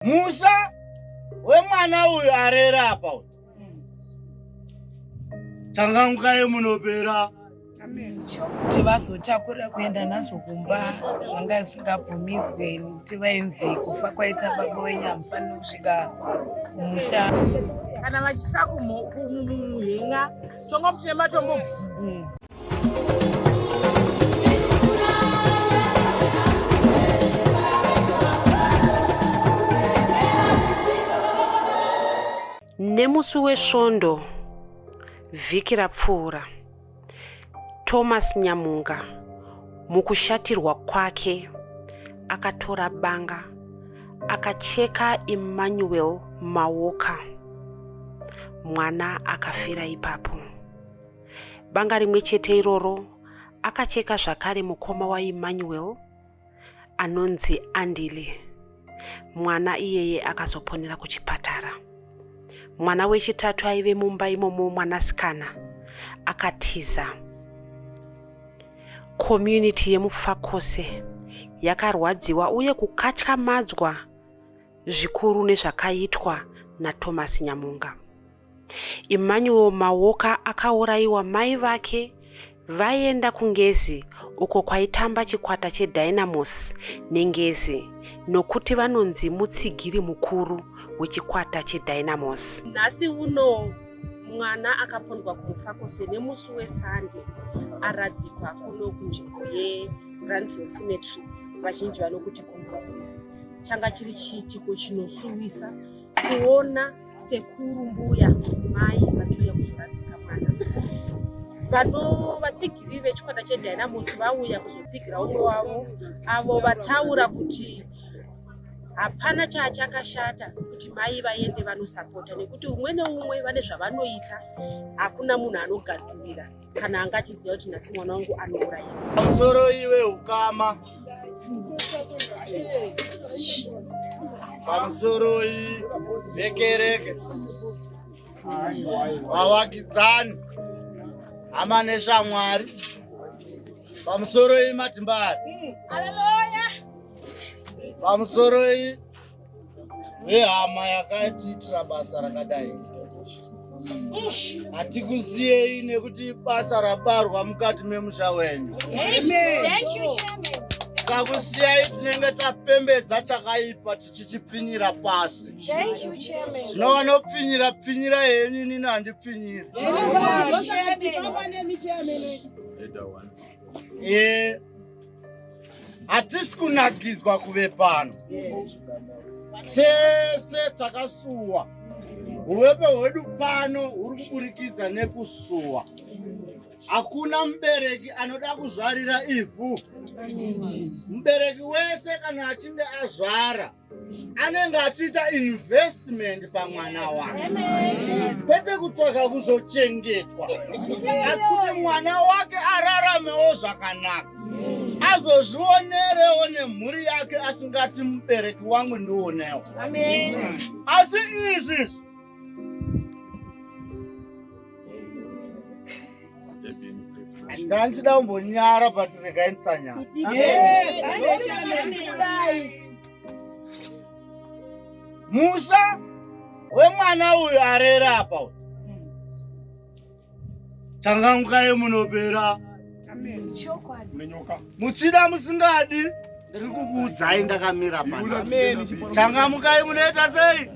Musha wemwana uyu arera apa uyu. Changangukai munopera. kuti vazotakura kuenda nazvo kumba zvanga zvisingabvumidzwe nekuti vainzi kufa kwaita baba wenyu hamufaniri kusvika kumusha kana vachitya kumuhenga tonga muchine matombo nemusi wesvondo vhiki rapfuura thomas nyamunga mukushatirwa kwake akatora banga akacheka emmanuel mawoka mwana akafira ipapo banga rimwe chete iroro akacheka zvakare mukoma waemmanuel anonzi andile mwana iyeye akazoponera kuchipatara mwana wechitatu aive mumba imomo mwanasikana akatiza community yemufakose yakarwadziwa uye kukatyamadzwa zvikuru nezvakaitwa nathomas nyamunga Emmanuel Mawoka akaurayiwa mai vake vaenda kuNgezi uko kwaitamba chikwata cheDynamos neNgezi nokuti vanonzi mutsigiri mukuru wechikwata cheDynamos. Nhasi uno mwana akapondwa kumufakose nemusi wesande aradzikwa kuno kunzvimbo yeGranville Cemetery vazhinji vanokuti kumbudzi. Changa chiri chiitiko chinosuwisa kuona sekuru mbuya mai vachiuya kuzoradzika mwana vanovatsigiri vechikwata chedynamos vauya kuzotsigira umwe wavo avo vataura kuti hapana chaachakashata kuti mai vaende vanosapota nekuti umwe neumwe vane zvavanoita hakuna munhu anogadzirira kana anga achiziva kuti nhasi mwana wangu anouraiwa pamusoro iwe ukama pamusoroi vekereke vavakidzani hama neshamwari pamusoroi matimbari pamusoroi vehama yakatiitira basa rakadai hatikusiyei nekuti basa rabarwa mukati memusha wenyu takusiyai tinenge tapembedza chakaipa tichichipfinyira pasi zvino vanopfinyira pfinyira henyu inini handipfinyiri e hatisi kunakidzwa kuve pano tese takasuwa uvepe hwedu pano huri kuburikidza nekusuwa hakuna mubereki anoda kuzvarira ivhu mubereki wese kana achinge azvara anenge achiita investment pamwana wake kwete kutsvaga kuzochengetwa asi kuti mwana wake araramewo zvakanaka azozvionerewo nemhuri yake asingati mubereki wangu ndionewo asi izvi ndandichida kumbonyara but regai ndisanyara musha wemwana uyu arere apa uti changangukai munopera nenyoka muchida musingadi ndiri kukuudzai ndakamira pano changamukai munoita sei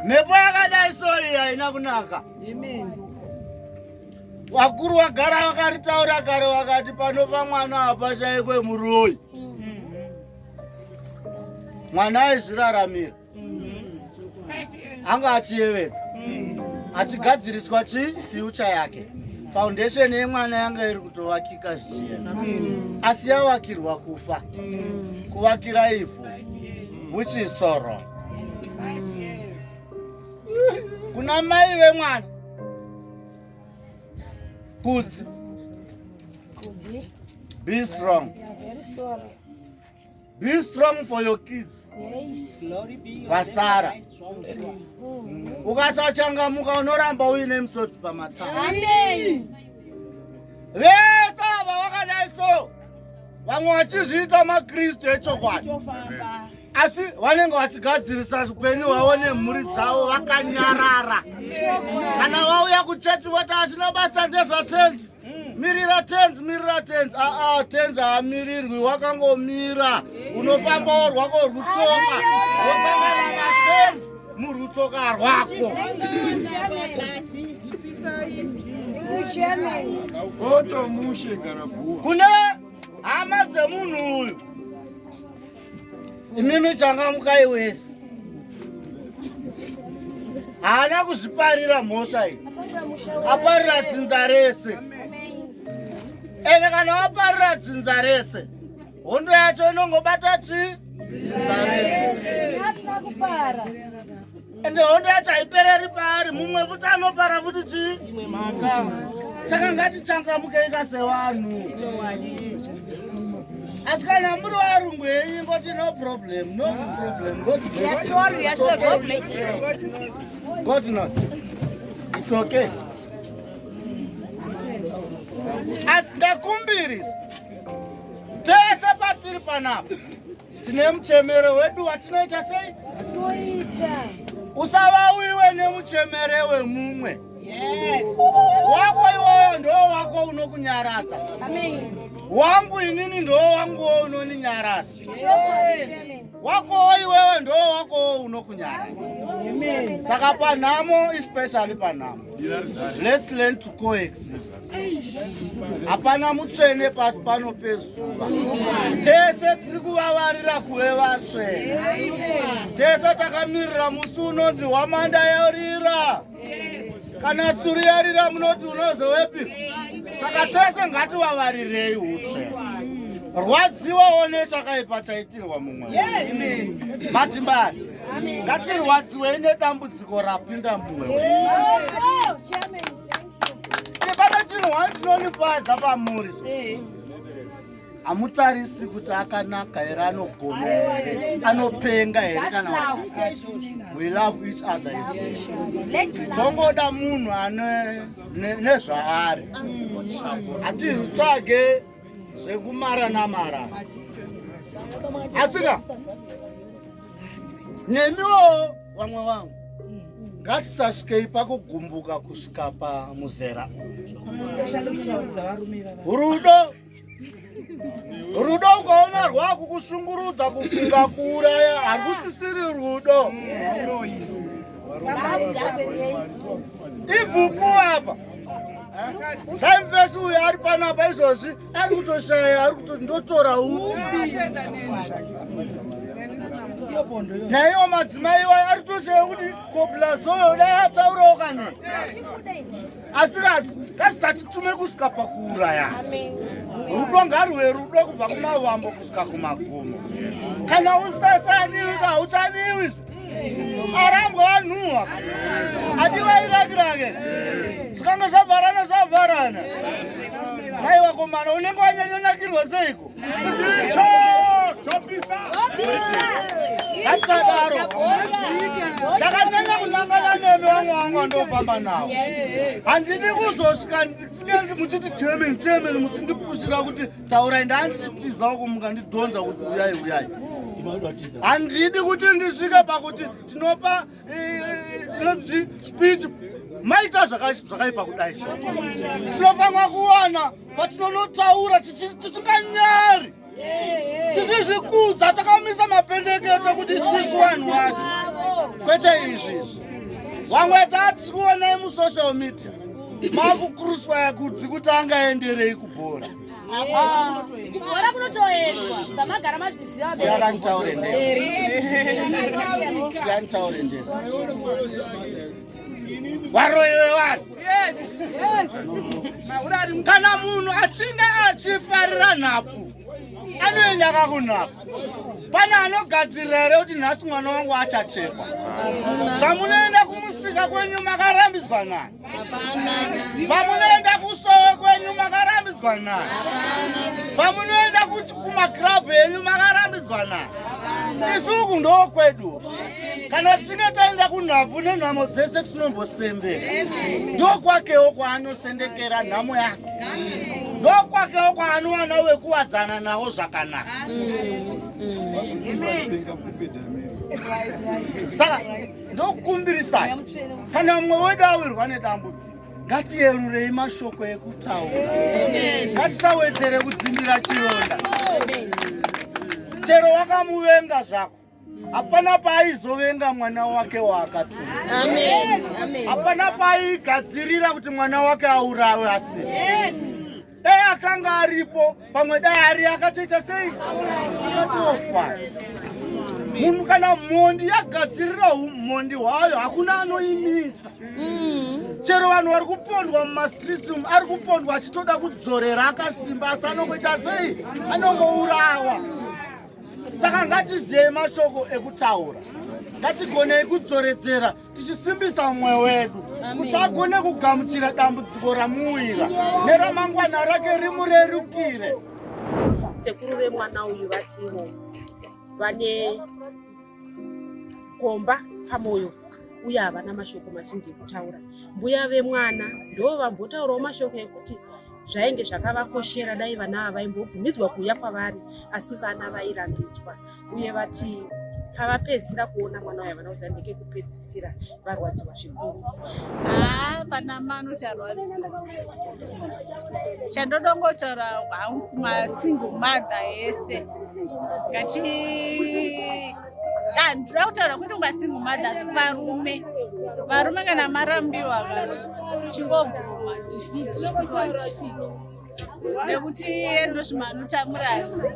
mhepo yakadai soyi haina kunaka vakuru vagara vakaritaura kare vakati panofa mwana apa chaikwe muroyi mwana aizviraramira anga achiyevedza achigadziriswa chi future yake foundation yemwana yanga iri kutovakika zvichienda asi yavakirwa kufa kuvakira ivhu which is sorrow kuna mai vemwana kudzi be strong yeah, Be strong for your kids. Yes. Glory be your Vasara. Ukasachangamuka unoramba uine misodzi pamatama. Amen. Vese ava vakadai so vamwe vachizviita maKristu echokwadi. Asi vanenge vachigadzirisa upenyu hwavo nemhuri dzavo vakanyarara. Kana vauya kuchechi voti asina basa ndezvatenzi. mirira tenzi mirira tenzi aa tenzi haamirirwi wakangomira unofamba worwako rwutsoka wosangana natenzi murwutsoka rwako kune hama dzemunhu uyu Imimi changamukai wese. Haana kuzviparira mhosva iyi. Aparira dzinza rese. Ende kana waparira dzinza rese, hondo yacho inongobata chi? Dzinza rese. Asina kupara. ende hondo yacho haipereri paari mumwe futi anopara futi chii imwe mhaka saka ngatichangamukei ka sevanhu asi kana muri varungu henyu ngoti no problem no problem god knows it's okay asi ndakumbirisa tese patiri panapa tine muchemero wedu watinoita sei tinoita usavauiwe nemuchemere wemumwe wako iwoyo ndo wako unokunyaradza wangu inini ndo wanguwo unoninyaradza wakowo iwewe ndo wakowo unokunyaradza saka panhamo especially panhamo let's learn to coexist hapana mutsvene pasi pano pezuva tese tiri kuvavarira kuve vatsvene tese takamirira musi unonzi hwamanda yarira kana tsuru yarira munoti unozovepi saka tese ngativavaririreyi utsvene rwadziwa one chakaipa chaitirwa mumwe matimbari ngatirwadziwei nedambudziko rapinda mumwe Chibaba chino one chinonifadza pamuri. Eh. Hamutarisi kuti akanaka here anogona here anopenga here kana we love each other tongoda munhu ane nezvaari hatizvitsvage zvekumara namara asika nemiwo vamwe vangu ngatisasvikei pakugumbuka kusvika pamuzera rudo rudo ukaona rwakukushungurudza kufunga kuuraya harusisiri rudo ibvupu apa Samfesi uyu ari pano apa izvozvi ari kutoshaya ari kuto ndotora uti naiwo madzimai iwayo ari kutoshaya kuti koblazoyo dai ataurawo kana asikazi kasitati tume kusvika pakuuraya rudo ngarwe rudo kubva kumavambo kusvika kumagumo kana usasaniwi kauchaniwi arambwa anhuwa adivairakirakhe zvikange zvavharana zvavharana nai wakomana unenge wanyanyonakirwa seiko ndakadaro ndakanyanya kunangana nemi vamwe vangu vandofamba navo handidi kuzosvika muchiti chairman chairman muchindipusira kuti taurai ndanzitizawo kumuka ndidhonza kuti uyai uyai handidi kuti ndisvike pakuti tinopa inonzi speech maita zvakaipa kudai so tinofanira kuwana patinonotaura tisinganyari tisizvikudza takamisa mapendekete kuti tisu vanhu wacho kwete izvi izvi wamwe tatikuonai musocial media makukruswaya kudzi kuti angaenderei kubhora kubhora kunotoendwa kamagara mazvizivaanitaure varoyi vevanhu kana munhu achinge achifarira nhapu anoenda kakunhapu pane anogadzirira here kuti nhasi mwana wangu achachekwa zvamunoenda kumusika kwenyu makarambidzwa nani vamunoenda kusowe kwenyu makarambidzwa nani vamunoenda kumakrabhu enyu makarambidzwa nani isuku ndoo kwedu kana tichinge taenda kunhabvu nenhamo dzese tinombosendeka ndokwakewo kwaanosendekera nhamo yake ndokwakewo kwaanowana wekuwadzana nawo zvakanaka saka ndokukumbirisai kana umwe wedu awirwa nedambudziko ngatiyerurei mashoko ekutaura ngatisawedzere kudzimbira chironda chero wakamuvenga zvako hapana paaizovenga mwana wake waakatumwa hapana paaigadzirira kuti mwana wake aurawe asi dai akanga aripo pamwe dai ari akatoita sei akatofa munhu kana mhondi yagadzirira umhondi hwayo hakuna anoimisa mm. chero vanhu vari kupondwa mumastreets umu ari kupondwa achitoda kudzorera akasimba asi anongoita sei anongourawa saka ngatiziyei mashoko ekutaura ngatigonei kudzoredzera tichisimbisa mwoyo wedu kuti agone kugamuchira dambudziko ramuwira neramangwana rake rimurerukire sekuru vemwana uyu vativo vane gomba pamwoyo uye havana mashoko mazhinji ekutaura mbuya vemwana ndo vambotaurawo mashoko ekuti zvainge zvakavakoshera dai vana ava vaimbobvumidzwa kuuya kwavari asi vana vairambidzwa uye vati pavapedzisira kuona mwana wayo vana uza ndekekupedzisira varwadziwa zvikuru haa pana mano charwadziwa chandodongotaura hangu masingle mother yese ngati ah, ndira kutaura kuti unga single mothers varume varume kana marambiwa chingobvuma defeat nekuti endozvimanutamurazvi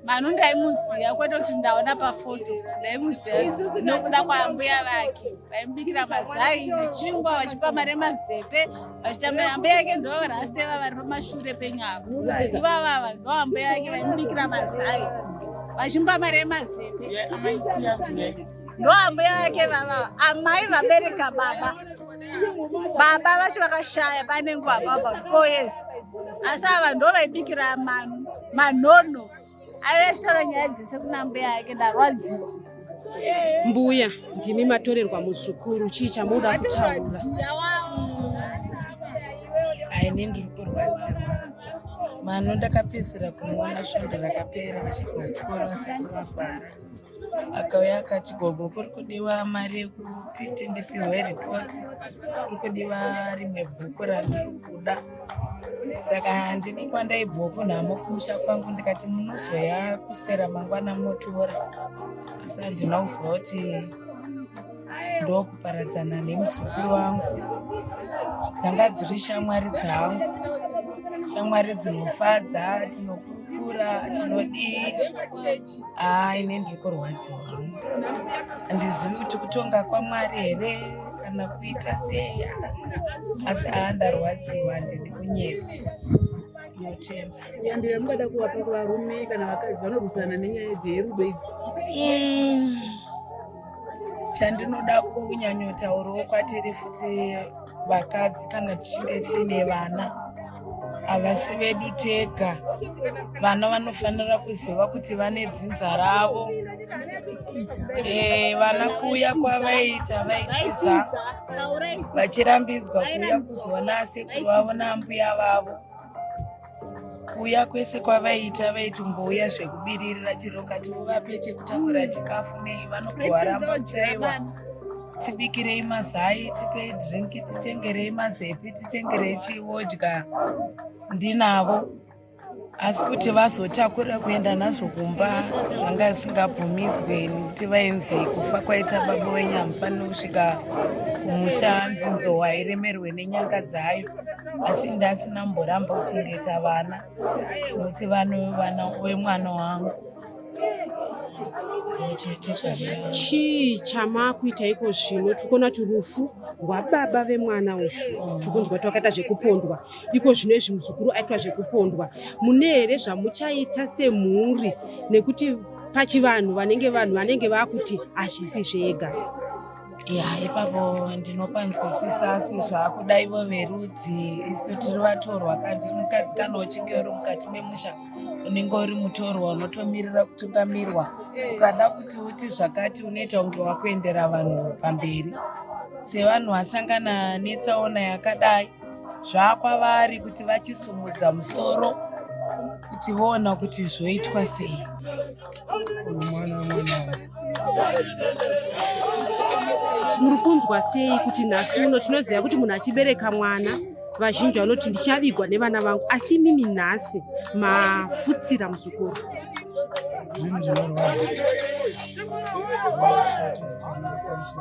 manu ndaimuziva kwete kuti ndaona pafoto ndaimuziva nokuda kwaambuya vake vaimubikira mazai nechingwa vachipa mari mazepe vachitambira ambuya yake ndo rasteva vari pamashure penyu avo ivavava ndo ambuya yake vaimubikira mazai vachimupa mari yemazeve ndo ambuya yake vava amai vabereka baba baba vacho vakashaya pane nguva about four years asi ava ndo vaibikira manu manhono aive achitaura nyaya dzese kuna mbuya yake ndarwadziwa mbuya ndimi matorerwa muzukuru chii chamunoda kutaura aine ndiri kurwadziwa mano ndakapedzisira kumuona svondo rakapera vachirwadziwa vasati vafara akauya akati gogo kuri kudiwa mari yekuti ndipihwe ripoti kuri kudiwa rimwe bhuku randiri kuda saka handidi kwandaibvoko nhamo kumusha kwangu ndikati munozoya kuswera mangwana motora asi handina kuziva kuti ndokuparadzana nemuzukuru wangu dzanga dziri shamwari dzangu shamwari dzinofadza tinokurukura tinodii Ah, ine ndiri kurwadziwa handizivi kuti kutonga kwamwari here kana kuita sei asi aa ndarwadziwa handidi kunyepa yambi yamungada kuvapa kuvarume kana vakadzi vanorwisana nenyaya dzerudo idzi mm. chandinoda kunyanyotaurawo kwatiri futi vakadzi kana tichinge tiine vana havasi vedu tega vana vanofanira kuziva kuti vane dzinza ravo eh, vana kuuya kwavaiita vaitiza vachirambidzwa kuuya kuzoona asekuru vavo naambuya vavo kuuya kwese kwavaiita vaitombouya zvekubiririra chero kati uvape chekutakura chikafu nei vanogovaramba chaiwa tibikirei mazai tipei drinki titengerei mazepi titengerei chiodya ndinavo asi kuti vazotakura kuenda nazvo kumba zvanga zvisingabvumidzwe nekuti vainzi kufa kwaita baba wenyu hamufaniri kusvika kumusha nzinzo hairemerwe nenyanga dzayo asi ndasina mboramba kuchengeta vana nokuti vano vana vemwana wangu chii chamakuita iko zvino tiri kuona kuti rufu rwababa vemwana uyu tiri kunzwa kuti wakaita zvekupondwa iko zvino izvi muzukuru aitwa zvekupondwa mune here zvamuchaita semhuri nekuti pachivanhu vanenge vanhu vanenge vakuti hazvisi zvega ya ipapo ndinopanzwisisa asi zvakuda ivo verudzi isu tiri vatorwa kandi mukadzi kana uchinge uri mukati memusha unenge uri mutorwa unotomirira kutungamirwa ukada kuti uti zvakati unoita kunge wakuendera vanhu pamberi sevanhu vasangana netsaona yakadai zvakwavari kuti vachisumudza musoro kuti voona kuti zvoitwa sei muri kunzwa sei kuti nhasi uno tinoziva kuti munhu achibereka mwana vazhinji vanoti ndichavigwa nevana vangu asi imimi nhasi mafutsira muzukuru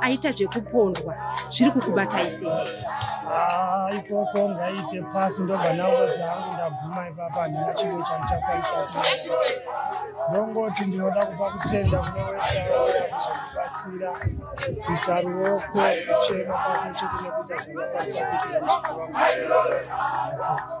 aita zvekupondwa zviri kukubatai sei ah, ikoko ngaite pasi ndobva naoti hangu ndaguma ipapa handina chimwe chandichakwanisa ndongoti ndinoda kupa kutenda kune wese auya kuzokubatsira kuisa ruoko kuchema pamwe chete nekuita zvandakwanisa kuitira muzukuru wangu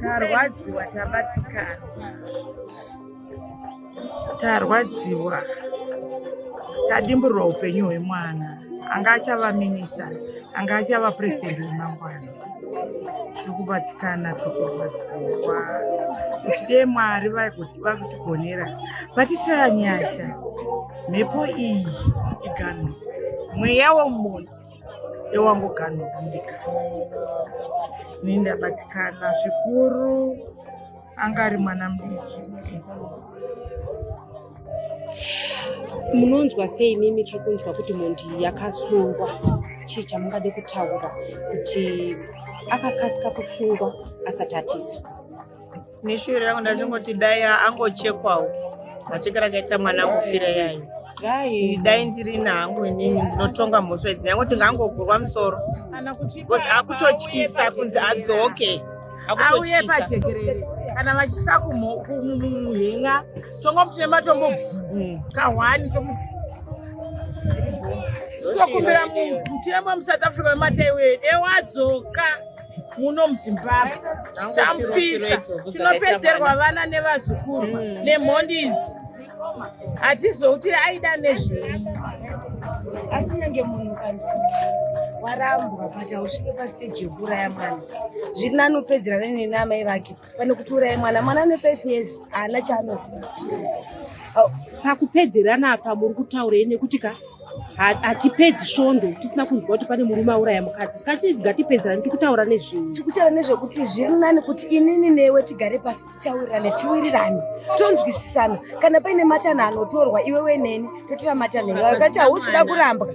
Tarwadziwa tabatikana. Tarwadziwa. Tadimburwa upenyu hwemwana. Anga achava minista, anga achava president wemangwana. Tiri kubatikana tiri kurwadziwa. Kuti dee Mwari vakutigonera. Vatitira nyasha. Mhepo iyi iganho. Mweya womunhu. ewangoganobumbika ini ndabatikana zvikuru anga ari mwana mudiki munonzwa sei mimi tiri kunzwa kuti mhondi yakasungwa chii chamungade kutaura kuti akakasika kusungwa asati atiza Neshuviro yangu ndachingoti dai angochekwawo macheke rakaita mwana kufira yayo dai dai ndiri nangu inini ndinotonga mhosva idzi nyangoti ngaangogurwa musoro bcause akutotyisa kunzi adzoke auye pajekerere kana vachitya kumuhenga tongomuti nematombo mm. kahwani tokumbira mutemo musouth africa wemata iweyo dewadzoka muno muzimbabwe tamupisa tinopedzerwa vana nevazukuru hmm. nemhondi idzi hatizouti aida nezvei asi nyange munhu kanzi warambwa but hausvike pasteji yekuuraya mwana zviri nani upedzera nene naamai vake pane kuti uraye mwana mwana ane five years haana chaanoziva pakupedzerana apa muri kutaurei nekuti ka hatipedzi svondo tisina kunzwa kuti pane murume auraya mukadzi kati ngatipedzerani tikutaura nezvei tikutaura nezvekuti zviri nani kuti inini newe tigare pasi titaurirane tiwirirane tonzwisisana kana paine matanha anotorwa iwewe neni totora matanha iwayo kati hausi kuda kurambwa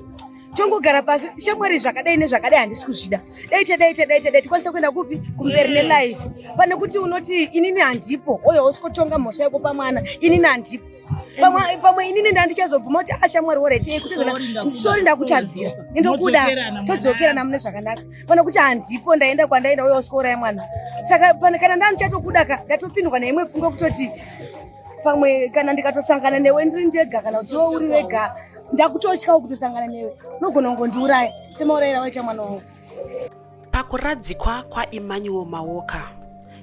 tongogara pasi shamwari zvakadai nezvakadai handisi kuzvida dai tadai tadai tadai tikwanisa kuenda kupi kumberi nelife pane kuti unoti inini handipo oyo hausi kutonga mhosva yako pamwana inini handipo pamwe pamwe inini ndandichazobvuma kuti ashamwari ah, woreti eh, kutisori ndakutadzira indokuda todzokerana mune zvakanaka pana kuti handipo ndaenda kwandaenda uye uskouraya mwana saka kana ndandichatokuda ka ndatopindwa neimwe pfungwa kutoti pamwe kana ndikatosangana newe ndiri ndega kana kuti iwe uri wega ndakutotyawo kutosangana newe unogona kungondiuraya semaurayira waita mwana wangu Pakuradzikwa kwaEmmanuel Mawoka,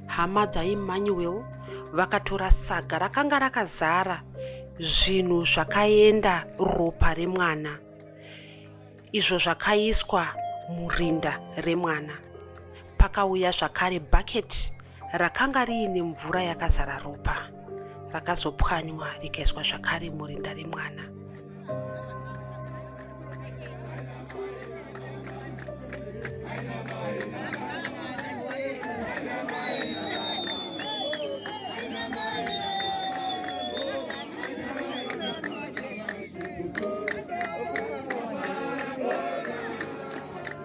hama dzaEmmanuel vakatora saga rakanga rakazara zvinhu zvakaenda ropa remwana izvo zvakaiswa murinda remwana. Pakauya zvakare bucket rakanga riine mvura yakazara ropa rakazopwanywa rikaiswa zvakare murinda remwana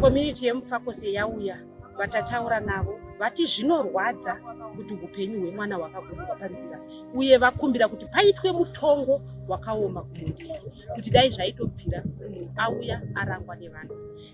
community yemufakose yauya vatataura navo vati zvinorwadza kuti upenyu hwemwana hwakagurirwa panzira uye vakumbira kuti paitwe mutongo wakaoma kumunhu kuti dai zvaitobvira auya arangwa nevanhu